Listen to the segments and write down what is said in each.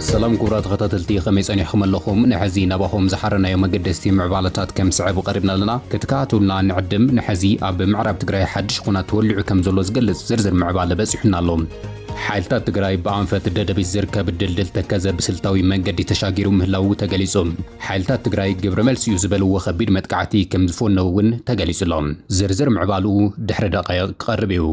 ሰላም ኩቡራ ተኸታተልቲ ከመይ ጸኒሕኩም ኣለኹም ንሐዚ ናባኹም ዝሓረናዮ መገደስቲ ምዕባለታት ከም ስዕብ ቀሪብና ኣለና ክትከታተሉና ንዕድም ንሐዚ ኣብ ምዕራብ ትግራይ ሓድሽ ኹናት ተወሊዑ ከም ዘሎ ዝገልጽ ዝርዝር ምዕባለ በጺሑና ኣሎ ሓይልታት ትግራይ ብኣንፈት ደደቢት ዝርከብ ድልድል ተከዘ ብስልታዊ መንገዲ ተሻጊሩ ምህላዉ ተገሊፁ። ሓይልታት ትግራይ ግብረ መልሲ እዩ ዝበልዎ ከቢድ መጥቃዕቲ ከምዝፈነዉ እውን ተገሊፁ ኣሎ። ዝርዝር ምዕባልኡ ድሕሪ ደቓይቕ ክቐርብ እዩ።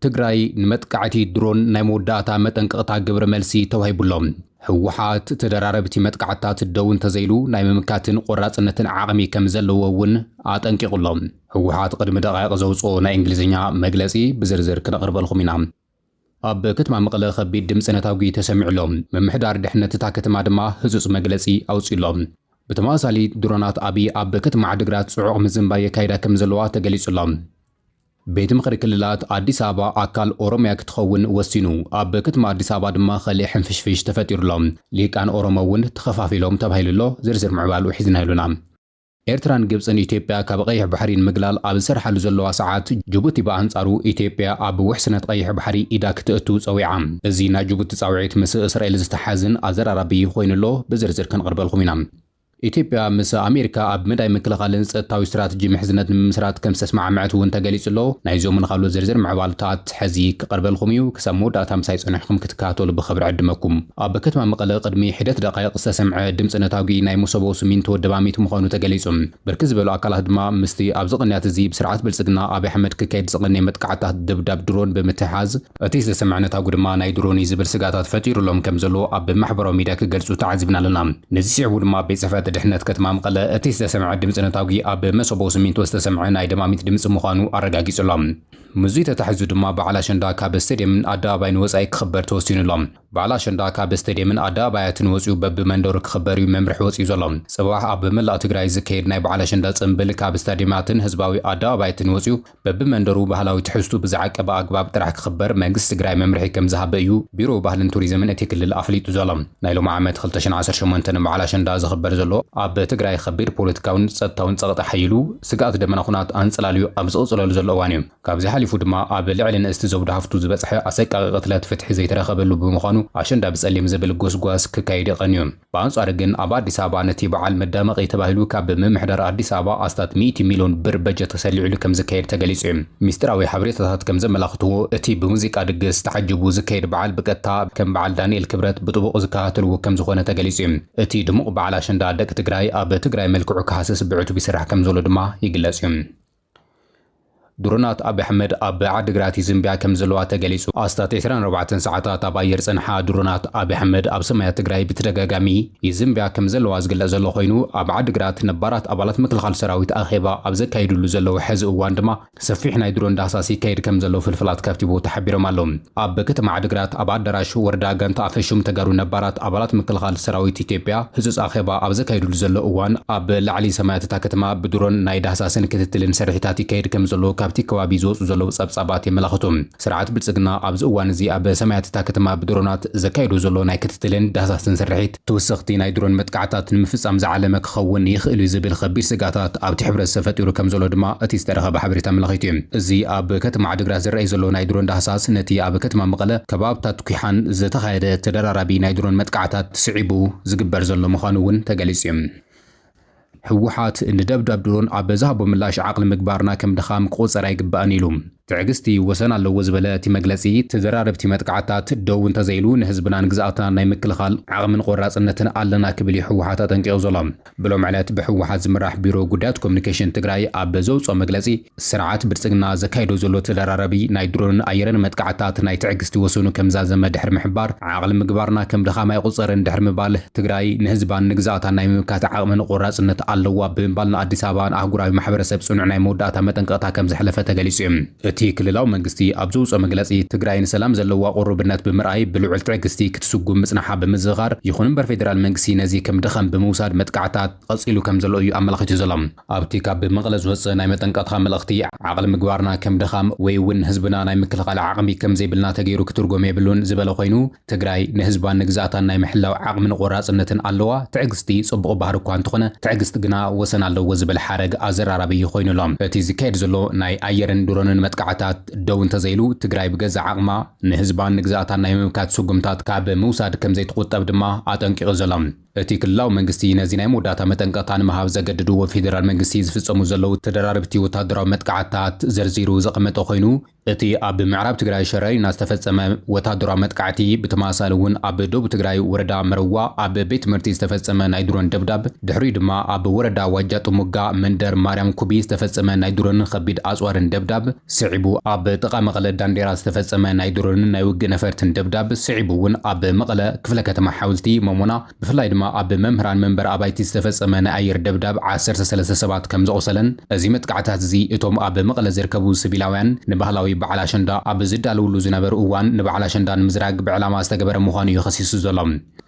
ትግራይ ንመጥቃዕቲ ድሮን ናይ መወዳእታ መጠንቀቕታ ግብረ መልሲ ተዋሂቡ ኣሎ። ህወሓት ተደራረብቲ መጥቃዕትታት ደው እንተዘይሉ ናይ ምምካትን ቆራፅነትን ዓቕሚ ከምዘለዎ እውን ኣጠንቂቑ ኣሎ። ህወሓት ቕድሚ ደቓይቕ ዘውጽኦ ናይ እንግሊዝኛ መግለጺ ብዝርዝር ክነቕርበልኹም ኢና። ኣብ ክትማ መቐለ ከቢድ ድምጺ ነታጒ ተሰሚዑ ኣሎ። ምምሕዳር ድሕነት እታ ክትማ ድማ ህጹጽ መግለጺ ኣውጺኡ ኣሎ። ብተመሳሳሊ ድሮናት ኣብይ ኣብ ክትማ ዓድግራት ጽዑቕ ምዝንባይ የካይዳ ከም ዘለዋ ተገሊጹ ኣሎ። ቤት ምኽሪ ክልላት ኣዲስ ኣበባ ኣካል ኦሮሚያ ክትኸውን ወሲኑ። ኣብ ክትማ ኣዲስ ኣበባ ድማ ኸሊእ ሕንፍሽፍሽ ተፈጢሩ ኣሎ። ሊሂቃን ኦሮሞ እውን ተኸፋፊሎም ተባሂሉ ኣሎ። ዝርዝር ምዕባልኡ ሒዝናዮ ኣሎና። ኤርትራን ግብጽን ኢትዮጵያ ካብ ቐይሕ ባሕሪ ንምግላል ኣብ ዝሰርሓሉ ዘለዋ ሰዓት፣ ጅቡቲ ብኣንጻሩ ኢትዮጵያ ኣብ ውሕስነት ቐይሕ ባሕሪ ኢዳ ክትእቱ ጸዊዓ። እዚ ናይ ጅቡቲ ጻውዒት ምስ እስራኤል ዝተሓዝን ኣዘራራቢ ኮይኑ ኣሎ፣ ብዝርዝር ክንቕርበልኩም ኢና። ኢትዮጵያ ምስ ኣሜሪካ ኣብ መዳይ ምክልኻልን ጸጥታዊ ስትራትጂ ምሕዝነት ንምምስራት ከምዝተስማዕመዐት እውን ተገሊጹ ኣሎ። ናይዞምን ኻልኦት ዝርዝር ምዕባልታት። ሐዚ ክቀርበልኹም እዩ ክሳብ መወዳእታ ምሳይ ፀኒሕኹም ክትከታተሉ ብኽብሪ ዕድመኩም። ኣብ ከተማ መቐለ ቅድሚ ሒደት ደቓይቕ ዝተሰምዐ ድምፂ ነታጒ ናይ መሶቦ ስሚንቶ ደማሚት ምዃኑ ተገሊፁ። ብርክት ዝበሉ ኣካላት ድማ ምስቲ ኣብዚ ቕንያት እዚ ብስርዓት ብልፅግና ኣብይ ኣሕመድ ክካየድ ዝቐነየ መጥቃዕትታት ደብዳብ ድሮን ብምትሕሓዝ፣ እቲ ዝተሰምዐ ነታጒ ድማ ናይ ድሮን እዩ ዝብል ስግኣታት ፈጢሩሎም ከም ዘሎ ኣብ ማሕበራዊ ሚድያ ክገልፁ ተዓዚብና ኣለና። ነዚ ስዒቡ ድማ ቤት ፅሕፈት ድሕነት ከተማ መቐለ እቲ ዝተሰምዐ ድምፂ ነታጒ ኣብ መሶቦ ስሚንቶ ዝተሰምዐ ናይ ደማሚት ድምፂ ምዃኑ ኣረጋጊፁ ኣሎ። ምስዙይ ተታሒዙ ድማ በዓል ኣሸንዳ ካብ ስቴድየምን ኣደባባይን ወፃኢ ክኽበር ተወሲኑ ኣሎ። በዓል ኣሸንዳ ካብ ስቴድየምን ኣደባባያትን ወፂኡ በቢ መንደሩ ክኽበር እዩ መምርሒ ወፂኡ ዘሎ። ፅባሕ ኣብ መላእ ትግራይ ዝካየድ ናይ በዓል ኣሸንዳ ፅምብል ካብ ስታድየማትን ህዝባዊ ኣደባባያትን ወፂኡ በቢ መንደሩ ባህላዊ ትሕዝትኡ ብዝዓቀበ ኣግባብ ጥራሕ ክኽበር መንግስቲ ትግራይ መምርሒ ከምዝሃበ እዩ ቢሮ ባህልን ቱሪዝምን እቲ ክልል ኣፍሊጡ ዘሎ። ናይ ሎሚ ዓመት ክልተ ሽሕን ዓሰርተ ሸሞንተን በዓል ኣሸንዳ ዝኽበር ዘሎ ኣብ ትግራይ ኸቢድ ፖለቲካዊን ፀጥታዊን ፀቕጢ ኣሐይሉ ስግኣት ደመና ኹናት ኣንፀላልዩ ኣብ ዝቕፅለሉ ዘሎ እዋን እዩ። ካብዚ ሓሊፉ ድማ ኣብ ልዕሊ ንእስቲ ዘውዲ ሃፍቱ ዝበፅሐ ኣሰቃቒ ቅትለት ፍትሒ ዘይተረኸበሉ ብምዃኑ ኣሸንዳ ብፀሊም ዝብል ጎስጓስ ክካየድ ይቐንዩ። ብኣንፃሩ ግን ኣብ ኣዲስ ኣበባ ነቲ በዓል መዳመቒ ተባሂሉ ካብ ምምሕዳር ኣዲስ ኣበባ ኣስታት ሚእቲ ሚሊዮን ብር በጀት ተሰሊዑሉ ከምዝካየድ ተገሊፁ እዩ። ሚስጢራዊ ሓበሬታታት ከም ዘመላኽትዎ፣ እቲ ብሙዚቃ ድግስ ተዓጂቡ ዝካየድ በዓል ብቀጥታ ከም በዓል ዳንኤል ክብረት ብጥቡቕ ዝከታተልዎ ከም ዝኾነ ተገሊጹ እዩ። እቲ ድሙቕ በዓል ኣሸንዳ ደቂ ትግራይ ኣብ ትግራይ መልክዑ ክሃስስ ብዕቱብ ይስራሕ ከም ዘሎ ድማ ይግለጽ እዩ። ድሮናት ኣብይ ኣሕመድ ኣብ ዓዲግራት ይዝንብያ ከም ዘለዋ ተገሊጹ። ኣስታት ዕስራን ኣርባዕተን ሰዓታት ኣብ ኣየር ዝጸንሓ ድሮናት ኣብይ ኣሕመድ ኣብ ሰማያት ትግራይ ብተደጋጋሚ፣ ይዝምብያ ከም ዘለዋ ዝግለጽ ዘሎ ኮይኑ፣ ኣብ ዓዲግራት ነባራት ኣባላት ምክልኻል ሰራዊት ኣኼባ ኣብ ዘካይድሉ ዘለዉ ሐዚ እዋን ድማ ሰፊሕ ናይ ድሮን ዳህሳስ ይካየድ ከም ዘሎ ፍልፍላት ካብቲ ቦታ ሓቢሮም ኣለው። ኣብ ከተማ ዓዲግራት ኣብ ኣዳራሽ ወረዳ ጋንታ ኣፈሹም ተጋሩ ነባራት ኣባላት ምክልኻል ሰራዊት ኢትዮጵያ ህጹጽ ኣኼባ ኣብ ዘካይድሉ ዘሎ እዋን ኣብ ላዕሊ ሰማያት እታ ከተማ ብድሮን ናይ ዳህሳስን ክትትልን ስርሒታት ይካየድ ከም ዘሎ ካብቲ ከባቢ ዝወጹ ዘለዉ ጸብጻባት የመላኽቱ። ስርዓት ብልጽግና ኣብዚ እዋን እዚ ኣብ ሰማያት እታ ከተማ ብድሮናት ዘካይዶ ዘሎ ናይ ክትትልን ዳህሳስን ስርሒት፣ ትውሰኽቲ ናይ ድሮን መጥቃዕታት ንምፍጻም ዝዓለመ ክኸውን ይኽእል'ዩ ዝብል ኸቢድ ስግኣታት ኣብቲ ሕብረተሰብ ፈጢሩ ከምዘሎ ድማ እቲ ዝተረኸበ ሓበሬታ ኣመላኺቱ'ዩ። እዚ ኣብ ከተማ ዓድግራት ዝረኣይ ዘሎ ናይ ድሮን ዳህሳስ ነቲ ኣብ ከተማ መቐለ፣ ከባብታት ኲሓን ዝተኻየደ ተደራራቢ ናይ ድሮን መጥቃዕታት ስዒቡ ዝግበር ዘሎ ምዃኑ'ውን ተገሊጹ'ዩ። ህወሓት ንደብዳብ ድሮን ኣብ ዝሃቦ ምላሽ ዓቕሊ ምግባርና ከም ድኻም ክቑፀር ኣይግባእን ኢሉ። ትዕግስቲ ወሰን ኣለዎ ዝበለ እቲ መግለፂ፣ ተደራረብቲ መጥቃዕትታት ደው እንተዘይሉ ንህዝብናን ግዝኣትናን ናይ ምክልኻል ዓቕሚን ቖራፅነትን ኣለና ክብል እዩ ህወሓት ኣጠንቂቑ ዘሎ። ብሎሚ ዕለት ብህወሓት ዝምራሕ ቢሮ ጉዳያት ኮሙኒኬሽን ትግራይ ኣብ ዘውፅኦ መግለፂ፣ ስርዓት ብልጽግና ዘካይዶ ዘሎ ተደራራቢ ናይ ድሮንን ኣየርን መጥቃዕትታት ናይ ትዕግስቲ ወሰኑ ከም ዛዘመ ድሕሪ ምሕባር፣ ዓቕሊ ምግባርና ከም ድኻም ኣይቑጸርን ድሕሪ ምባል፣ ትግራይ ንህዝባን ንግዝኣታን ናይ ምምካት ዓቕምን ቖራጽነት ኣለዋ ብምባል ንኣዲስ ኣበባን ኣህጉራዊ ማሕበረሰብ ጽኑዕ ናይ መወዳእታ መጠንቀቕታ ከም ዘሕለፈ ተገሊጹ። እቲ ክልላዊ መንግስቲ ኣብ ዘውጽኦ መግለጺ፣ ትግራይ ንሰላም ዘለዋ ቑሩብነት ብምርኣይ ብልዑል ትዕግስቲ ክትስጉም ምጽናሓ ብምዝኽኻር፣ ይኹን'ምበር ፌደራል መንግስቲ ነዚ ከም ድኻም ብምውሳድ መጥቃዕትታት ቐጺሉ ከም ዘሎ እዩ ኣመላኺቱ ዘሎ። ኣብ'ቲ ካብ መቐለ ዝወጽእ ናይ መጠንቀቕታ መልእኽቲ፣ ዓቕሊ ምግባርና ከም ድኻም ወይ እውን ህዝብና ናይ ምክልኻል ዓቕሚ ከም ዘይብልና ተገይሩ ክትርጎም የብሉን ዝበለ ኮይኑ፣ ትግራይ ንህዝባን ንግዝኣታን ናይ ምሕላው ዓቕምን ቖራጽነትን ኣለዋ፣ ትዕግስቲ ጽቡቕ ባህሪ እኳ እንተኾነ ትዕግስቲ ግና ወሰን ኣለዎ ዝብል ሓረግ ኣዘራራቢ እዩ ኮይኑ ኣሎ። እቲ ዝካየድ ዘሎ ናይ ኣየርን ድሮንን መጥቃዕታት ደው እንተዘይሉ፣ ትግራይ ብገዛእ ዓቕማ ንህዝባን ንግዝኣታን ናይ ምምካት ስጉምታት ካብ ምውሳድ ከም ዘይትቑጠብ ድማ ኣጠንቂቑ ዘሎ። እቲ ክልላዊ መንግስቲ ነዚ ናይ መወዳእታ መጠንቀቕታ ንምሃብ ዘገድዱ ብፌደራል መንግስቲ ዝፍጸሙ ዘለዉ ተደራረብቲ ወተሃደራዊ መጥቃዕትታት ዘርዚሩ ዘቐመጠ ኮይኑ፣ እቲ ኣብ ምዕራብ ትግራይ ሸረሪና ዝተፈጸመ ወተሃደራዊ መጥቃዕቲ፣ ብተመሳሳሊ እውን ኣብ ደቡብ ትግራይ ወረዳ መረዋ ኣብ ቤት ትምህርቲ ዝተፈጸመ ናይ ድሮን ደብዳብ፣ ድሕሪኡ ድማ ኣብ ወረዳ ዋጃ ጥሙጋ መንደር ማርያም ኩቢ ዝተፈጸመ ናይ ድሮንን ከቢድ ኣጽዋርን ደብዳብ፣ ስዒቡ ኣብ ጥቓ መቐለ ዳንዴራ ዝተፈጸመ ናይ ድሮንን ናይ ውግእ ነፈርትን ደብዳብ፣ ስዒቡ እውን ኣብ መቐለ ክፍለ ከተማ ሓውልቲ፣ ሞሞና፣ ብፍላይ ድማ ኣብ መምህራን መንበሪ ኣባይቲ ዝተፈጸመ ናይ ኣየር ደብዳብ ዓሰርተ ሰለስተ ሰባት ከም ዘቑሰለን እዚ መጥቃዕታት እዚ እቶም ኣብ መቐለ ዝርከቡ ስቪላውያን ንባህላዊ በዓል ኣሸንዳ ኣብ ዝዳለውሉ ዝነበሩ እዋን ንበዓል ኣሸንዳ ንምዝራግ ብዕላማ ዝተገበረ ምዃኑ እዩ ከሲሱ ዘሎ።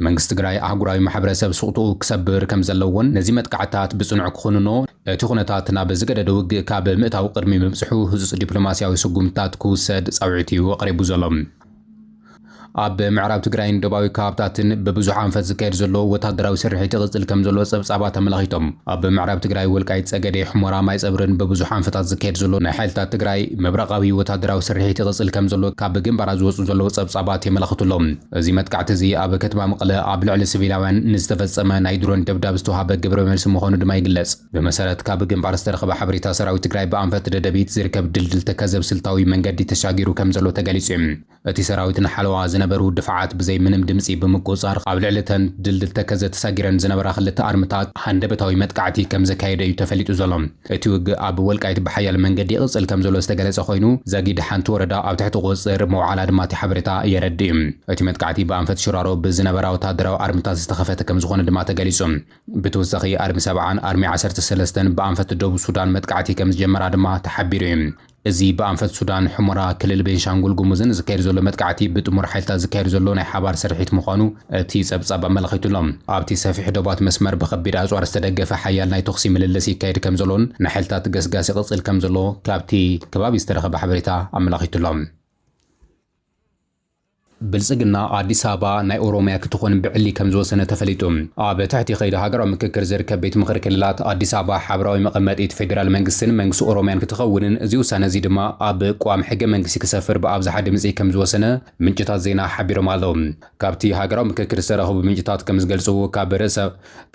መንግስቲ ትግራይ ኣህጉራዊ ማሕበረሰብ ስቕትኡ ክሰብር ከም ዘለዎን ነዚ መጥቃዕትታት ብጽኑዕ ክኹንኖ እቲ ኩነታት ናብ ዝገደደ ውግእ ካብ ምእታዉ ቅድሚ ምብጽሑ ህጹጽ ዲፕሎማስያዊ ስጉምትታት ክውሰድ ጻውዒት'ዩ ኣቕሪቡ ዘሎ። ኣብ ምዕራብ ትግራይን ዶባዊ ከባብታትን ብብዙሕ ኣንፈት ዝካየድ ዘሎ ወተሃደራዊ ስርሒት ይቕጽል ከም ዘሎ ጸብጻባት ኣመላኺቶም። ኣብ ምዕራብ ትግራይ ወልቃይት ጸገዴ፣ ሑመራ፣ ማይጸብሪን ብብዙሕ ኣንፈታት ዝካየድ ዘሎ ናይ ሓይልታት ትግራይ ምብራቓዊ ወተሃደራዊ ስርሒት ይቕጽል ከም ዘሎ ካብ ግንባራት ዝወጹ ዘለዉ ጸብጻባት የመላኽቱ ኣሎዉ። እዚ መጥቃዕቲ እዚ ኣብ ከተማ መቐለ ኣብ ልዕሊ ስቪላውያን ንዝተፈጸመ ናይ ድሮን ደብዳብ ዝተውሃበ ግብረ መልሲ ምዃኑ ድማ ይግለጽ። ብመሰረት ካብ ግንባር ዝተረኽበ ሓበሬታ ሰራዊት ትግራይ ብኣንፈት ደደቢት ዝርከብ ድልድል ተከዘ ብስልታዊ መንገዲ ተሻጊሩ ከምዘሎ ተገሊጹ እዩ። እቲ ሰራዊት ንሓለዋ ዝነበሩ ድፋዓት ብዘይ ምንም ድምጺ ብምቁጽጻር ኣብ ልዕሊ እተን ድልድል ተከዘ ተሳጊረን ዝነበራ ክልተ ኣርምታት ሃንደበታዊ መጥቃዕቲ ከምዘካየደ እዩ ተፈሊጡ ዘሎ። እቲ ውግእ ኣብ ወልቃይት ብሓያል መንገዲ ይቕጽል ከምዘሎ ዝተገለጸ ኮይኑ፣ ዛጊድ ሓንቲ ወረዳ ኣብ ትሕቲ ቁጽጽር ምውዓላ ድማ እቲ ሓበሬታ የረድእ። እቲ መጥቃዕቲ ብኣንፈት ሽራሮ ብዝነበራ ወተሃደራዊ ኣርምታት ዝተኸፈተ ከምዝኾነ ድማ ተገሊጹ። ብተወሳኺ ኣርሚ ሰብዓን ኣርሚ ዓሰርተ ሰለስተን ብኣንፈት ደቡብ ሱዳን መጥቃዕቲ ከምዝጀመራ ድማ ተሓቢሩ እዩ። እዚ ብኣንፈት ሱዳን፣ ሑመራ፣ ክልል ቤንሻንጉል ጉሙዝን ዝካየድ ዘሎ መጥቃዕቲ ብጥሙር ሓይልታት ዝካየድ ዘሎ ናይ ሓባር ስርሒት ምዃኑ እቲ ጸብጻብ ኣመላኺቱ'ሎ። ኣብቲ ሰፊሕ ዶባት መስመር ብከቢድ ኣጽዋር ዝተደገፈ ሓያል ናይ ተኹሲ ምልልስ ይካየድ ከምዘሎን ንሓይልታት ገስጋስ ይቕጽል ከምዘሎ ካብቲ ከባቢ ዝተረኸበ ሓበሬታ ኣመላኺቱ'ሎ። ብልፅግና ኣዲስ ኣበባ ናይ ኦሮሚያ ክትኾን ብዕሊ ከምዝወሰነ ተፈሊጡ። ኣብ ትሕቲ ከይዲ ሃገራዊ ምክክር ዝርከብ ቤት ምኽሪ ክልላት፣ ኣዲስ ኣበባ ሓበራዊ መቐመጢት ፌዴራል መንግስቲን መንግስቲ ኦሮሚያን ክትኸውንን እዚ ውሳነ እዚ ድማ ኣብ ቋሚ ሕገ መንግስቲ ክሰፍር ብኣብዝሓ ድምፂ ከምዝወሰነ ምንጭታት ዜና ሓቢሮም ኣለው። ካብቲ ሃገራዊ ምክክር ዝተረኸቡ ምንጭታት ከምዝገልፅዎ ካብ ርእሰ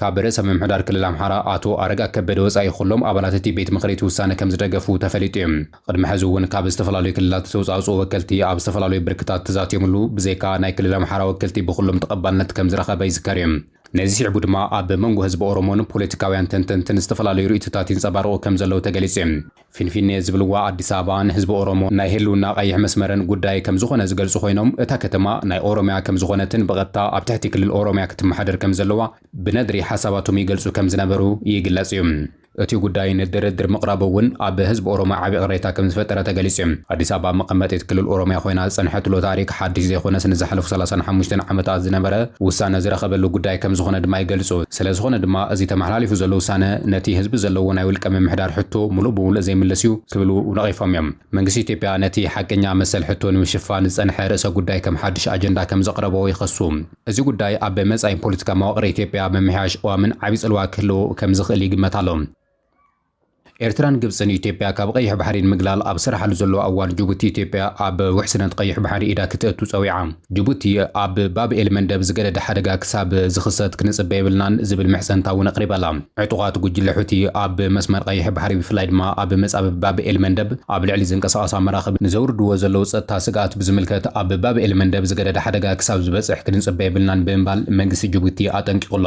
ካብ ርእሰ ምምሕዳር ክልል ኣምሓራ ኣቶ ኣረጋ ከበደ ወፃኢ ኹሎም ኣባላት እቲ ቤት ምኽሪ እቲ ውሳነ ከምዝደገፉ ተፈሊጡ እዩ። ቕድሚ ሐዚ እውን ካብ ዝተፈላለዩ ክልላት ዝተውፃእፅኡ ወከልቲ ኣብ ዝተፈላለዩ ብርክታት ተዛትዮምሉ ብዘይካ ናይ ክልል ኣምሓራ ወከልቲ ብኹሎም ተቐባልነት ከምዝረኸበ ይዝከር እዩ። ነዚ ስዒቡ ድማ ኣብ መንጎ ህዝቢ ኦሮሞን ፖለቲካውያን ተንተንትን ዝተፈላለዩ ርኢቶታት ይንፀባረቑ ከምዘለዉ ተገሊፁ እዩ። ፊንፊኔ ዝብልዋ ኣዲስ ኣበባ ንህዝቢ ኦሮሞ ናይ ህልውና ቐይሕ መስመርን ጉዳይ ከምዝኾነ ዝገልፁ ኾይኖም እታ ከተማ ናይ ኦሮሚያ ከምዝኾነትን ብቐጥታ ኣብ ትሕቲ ክልል ኦሮሚያ ክትመሓደር ከምዘለዋ ብነድሪ ሓሳባቶም ይገልፁ ከምዝነበሩ ይግለፅ እዩ። እቲ ጉዳይ ንድርድር ምቕራቡ እውን ኣብ ህዝቢ ኦሮሞ ዓብዪ ቅሬታ ከምዝፈጠረ ተገሊፁ እዩ። ኣዲስ ኣበባ መቐመጢት ክልል ኦሮሚያ ኮይና ዝፀንሐትሉ ታሪክ ሓዱሽ ዘይኮነስ ንዝሓለፉ ሰላሳን ሓሙሽተን ዓመታት ዝነበረ ውሳነ ዝረኸበሉ ጉዳይ ከምዝኾነ ድማ ይገልፁ። ስለዝኾነ ድማ እዚ ተመሓላሊፉ ዘሎ ውሳነ ነቲ ህዝቢ ዘለዎ ናይ ውልቀ ምምሕዳር ሕቶ ሙሉእ ብሙሉእ ዘይምልስ እዩ ክብሉ ነቒፎም እዮም። መንግስቲ ኢትዮጵያ ነቲ ሓቀኛ መሰል ሕቶ ንምሽፋን ዝፀንሐ ርእሰ ጉዳይ ከም ሓዱሽ ኣጀንዳ ከምዘቕረቦ ይኸሱ። እዚ ጉዳይ ኣብ መጻኢ ፖለቲካ መዋቕር ኢትዮጵያ ኣብ ምምሕያሽ ቅዋምን ዓቢ ጽልዋ ክህልዎ ከም ዝኽእል ይግመት ኣሎ። ኤርትራን ግብጽን ኢትዮጵያ ካብ ቐይሕ ባሕሪ ንምግላል ኣብ ዝሰርሓሉ ዘለዋ እዋን ጅቡቲ ኢትዮጵያ ኣብ ውሕስነት ቐይሕ ባሕሪ ኢዳ ክተእቱ ጸዊዓ። ጅቡቲ ኣብ ባብ ኤል መንደብ ዝገደደ ሓደጋ ክሳብ ዝኽሰት ክንጽበ የብልናን ዝብል ምሕጽንታ እውን ኣቕሪባ'ላ። ዕጡቓት ጉጅለ ሑቲ ኣብ መስመር ቀይሕ ባሕሪ ብፍላይ ድማ ኣብ መጻብብ ባብ ኤል መንደብ ኣብ ልዕሊ ዝንቀሳቐሳ መራኽብ ንዘውርድዎ ዘለዉ ጸጥታ ስግኣት ብዝምልከት ኣብ ባብ ኤል መንደብ ዝገደደ ሓደጋ ክሳብ ዝበጽሕ ክንጽበ የብልናን ብምባል መንግስቲ ጅቡቲ ኣጠንቂቑ'ሎ።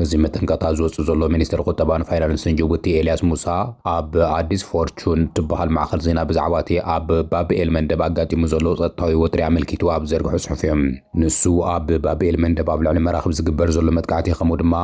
እዚ መጠንቀቕታ ዝወጽእ ዘሎ ሚኒስተር ቁጠባን ፋይናንስን ጅቡቲ ኤልያስ ሙሳ ኣብ ኣዲስ ፎርቹን ትበሃል ማዕከን ዜና ብዛዕባ'ቲ ኣብ ባብ ኤል መንደብ ኣጋጢሙ ዘሎ ጸጥታዊ ወጥሪ ኣመልኪቱ ኣብ ዝዘርግሖ ጽሑፍ'ዩ። ንሱ ኣብ ባብ ኤል መንደብ ኣብ ልዕሊ መራኽብ ዝግበር ዘሎ መጥቃዕቲ ከምኡ ድማ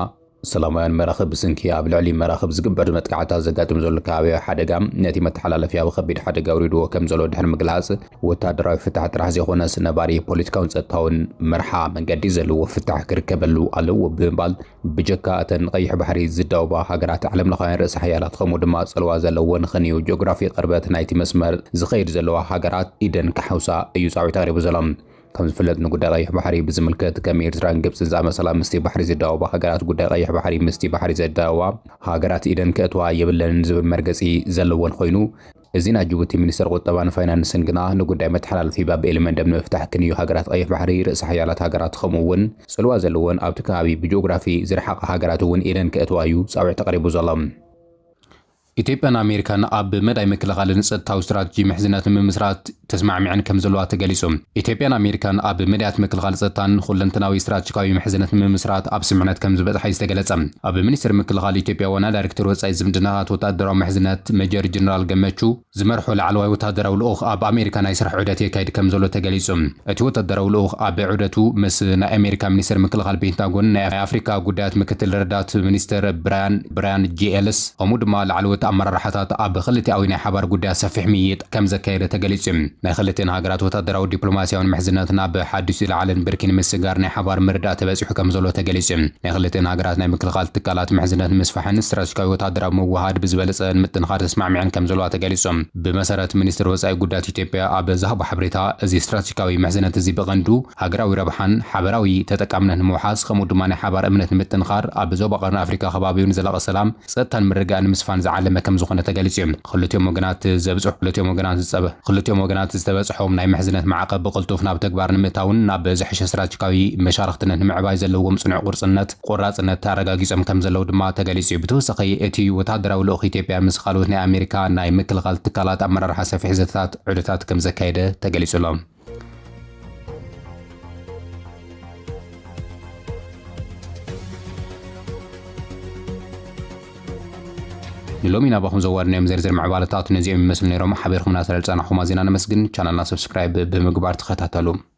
ሰላማውያን መራኽብ ብስንኪ ኣብ ልዕሊ መራኽብ ዝግበር መጥቃዕትታት ዘጋጥም ዘሎ ከባብያዊ ሓደጋ ነቲ መተሓላለፊ ኣብ ኸቢድ ሓደጋ ኣውሪድዎ ከምዘሎ ድሕሪ ምግላፅ፣ ወታደራዊ ፍታሕ ጥራሕ ዘይኾነስ ነባሪ ፖለቲካውን ፀጥታውን መርሓ መንገዲ ዘለዎ ፍታሕ ክርከበሉ ኣለዎ ብምባል ብጀካ እተን ንቀይሕ ባሕሪ ዝዳወባ ሃገራት ዓለምለኻውያን ርእሰ ሓያላት ኸምኡ ድማ ፅልዋ ዘለወን ኽንዩ ጂኦግራፊ ቕርበት ናይቲ መስመር ዝኸይድ ዘለዋ ሃገራት ኢደን ክሓውሳ እዩ ፃዊዒት ኣቕሪቡ ዘሎ። ከም ዝፍለጥ ንጉዳይ ቀይሕ ባሕሪ ብዝምልከት ከም ኤርትራን ግብጽን ዝኣመሰላ ምስቲ ባሕሪ ዝዳወባ ሃገራት ጉዳይ ቀይሕ ባሕሪ ምስቲ ባሕሪ ዘዳወባ ሃገራት ኢደን ከእትዋ የብለንን ዝብል መርገጺ ዘለወን ኮይኑ እዚ ናይ ጅቡቲ ሚኒስተር ቁጠባን ፋይናንስን ግና ንጉዳይ መተሓላለፊ ባብ ኤልመንደብ ንምፍታሕ ክንዩ ሃገራት ቀይሕ ባሕሪ ርእሰ ሓያላት ሃገራት ከምኡ እውን ጽልዋ ዘለወን ኣብቲ ከባቢ ብጂኦግራፊ ዝረሓቓ ሃገራት እውን ኢደን ከእትዋ እዩ ጻውዒት ኣቕሪቡ ዘሎ። ኢትዮጵያን ኣሜሪካን ኣብ መዳይ ምክልኻልን ጸጥታዊ ስትራተጂ ምሕዝነት ንምምስራት ተስማዕሚዐን ከምዘለዋ ተገሊጹ። ኢትዮጵያን ኣሜሪካን ኣብ መዳያት ምክልኻል ጸጥታን ኹለንተናዊ ስትራተጂካዊ ምሕዝነት ንምምስራት ኣብ ስምምዕነት ከምዝበጽሓ'ዩ ዝተገለጸ። ኣብ ሚኒስቴር ምክልኻል ኢትዮጵያ ዋና ዳይሬክተር ወጻኢ ዝምድናታት ወተሃደራዊ ምሕዝነት መጀር ጀነራል ገመቹ ዝመርሖ ላዕለዋይ ወተሃደራዊ ልኡኽ ኣብ ኣሜሪካ ናይ ስራሕ ዑደት የካይድ ከምዘሎ ተገሊጹ። እቲ ወተደራዊ ልኡኽ ኣብ ዑደቱ ምስ ናይ ኣሜሪካ ሚኒስተር ምክልኻል ፔንታጎን ናይ ኣፍሪካ ጉዳያት ምክትል ረዳት ሚኒስተር ብራያን ብራያን ጂ ኤልስ ከምኡ ድማ ላዕለዎት ኣመራርሓታት ኣብ ክልቲኣዊ ናይ ሓባር ጉዳያት ሰፊሕ ምይይጥ ከምዘካየደ ተገሊፁ እዩ። ናይ ክልቲኤን ሃገራት ወታደራዊ ዲፕሎማሲያዊን ምሕዝነት ናብ ሓዱሽ ዝለዓለን ብርኪ ንምስግጋር ናይ ሓባር ምርዳእ ተበፂሑ ከምዘሎ ተገሊፁ እዩ። ናይ ክልቲኤን ሃገራት ናይ ምክልኻል ትካላት ምሕዝነት ንምስፋሕን ስትራቴጂካዊ ወታደራዊ ምውህሃድ ብዝበለፀ ንምጥንኻር ተስማዕሚዐን ከምዘለዋ ተገሊፁ። ብመሰረት ሚኒስትሪ ወጻኢ ጉዳያት ኢትዮጵያ ኣብ ዝሃቦ ሓበሬታ፣ እዚ ስትራቴጂካዊ ምሕዝነት እዚ ብቐንዱ ሃገራዊ ረብሓን ሓበራዊ ተጠቃምነት ንምውሓስ ከምኡ ድማ ናይ ሓባር እምነት ንምጥንኻር ኣብ ዞባ ቀርኒ ኣፍሪካ ከባቢኡ ንዘላቒ ሰላም፣ ፀጥታን ምርግጋእን ንምስፋን ዝዓለመ ከምዝኾነ ተገሊፁ እዩ። ክልቲኦም ወገናት ዘብጽሑ ክልቲኦም ወገናት ዝፀበ ክልቲኦም ወገናት ዝተበፅሖም ናይ ምሕዝነት ማዕቐብ ብቕልጡፍ ናብ ተግባር ንምእታውን ናብ ዝሐሸ ስትራቴጂካዊ መሻርኽትነት ንምዕባይ ዘለዎም ፅኑዕ ቁርፅነት ቆራፅነት ኣረጋጊፆም ከምዘለዉ ድማ ተገሊፁ እዩ። ብተወሳኺ እቲ ወታደራዊ ልኡኽ ኢትዮጵያ ምስ ኻልኦት ናይ ኣሜሪካ ናይ ምክልኻል ትካላት ኣመራርሓ ሰፊሕ ዘተታት ዑደታት ከምዘካየደ ተገሊፁ ኣሎ። ንሎሚ ናባኹም ዘዋድናዮም ዝርዝር ምዕባለታት ነዚኦም ይመስሉ ነይሮም። ሓቢርኩምና ስለዝፀናኹም ኣዚና ነመስግን። ቻናልና ሰብስክራይብ ብምግባር ተኸታተሉ።